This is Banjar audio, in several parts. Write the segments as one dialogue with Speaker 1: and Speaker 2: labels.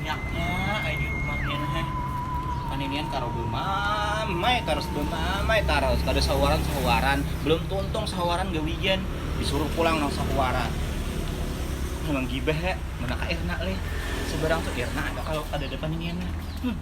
Speaker 1: Banyaknya ai di rumah nih nah eh. Paninian karo bemamai tarus, bemamai tarus. Kada sahuaran-sahuaran. Belum tuntung sahuaran gawian. Disuruh pulang nang sahuaran. Memang gibah ya. Mana ka Irna leh. Seberang tu Irna ada kalau kadada paniniannya. Hmm.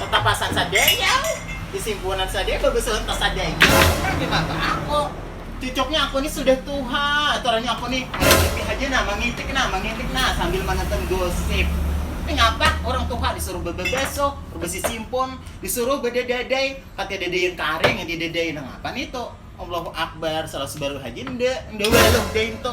Speaker 1: Tatapasan sadayau, isimpunan sadaya, babasauran ka sadaya, urang ni maba ako. Cucuknya ako ni sudah tuha, aturannya ako ni mangipi haja nah, mangitik nah, mangitik nah sambil manonton gosip. Ni ngapa urang tuha disuruh bababasuh, babasisimpun, disuruh badadadai, ka tadadaian karing yang didadai, nang apa nitu? Allahu Akbar, salah subaruh haja nda, nda waluh daintu.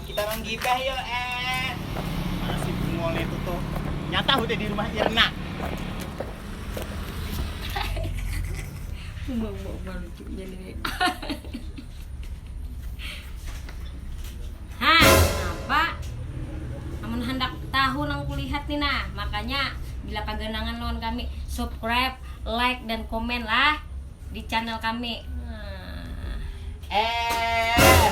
Speaker 1: Kita nang gibah yo eh. Mana si Bungol nya itu tuh. Nyata hudah di rumah Irna.
Speaker 2: Uma uma uma lucunya nih. ha, apa? Amun hendak tahu nang kulihat nih nah, makanya bila kaganangan lawan kami, subscribe, like dan komen lah di channel kami. Eh.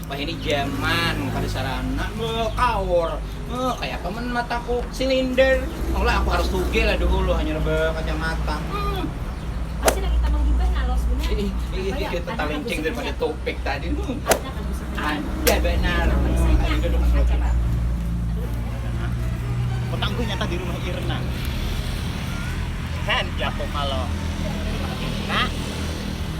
Speaker 1: Wahini jaman kada sarana beuh kaur huh kayapa mun mataku silinder maulah aku harus tugeh lah duhulu hanyar bekacamata huh. Masih
Speaker 2: lagi tambah hibah nah Los bunyah. Ih ih ih ih tetalincing
Speaker 1: daripada topik tadi huh.
Speaker 2: Ada banar
Speaker 1: huh ayu duduk nang lagi
Speaker 2: nah.
Speaker 1: Otak gue nyata di rumah Irna. Heh, jago kalo. Nah.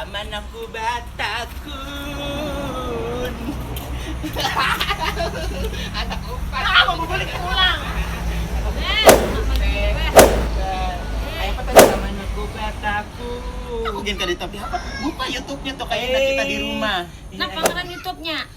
Speaker 3: Aman aku batakun. Anak umpat. Ah, mau balik pulang.
Speaker 1: Ayo
Speaker 3: apa tadi aman aku batakun. Aku gen kada
Speaker 1: tahu apa. Buka YouTube-nya tuh kayaknya kita di rumah. Nah, pangaran
Speaker 2: YouTube-nya.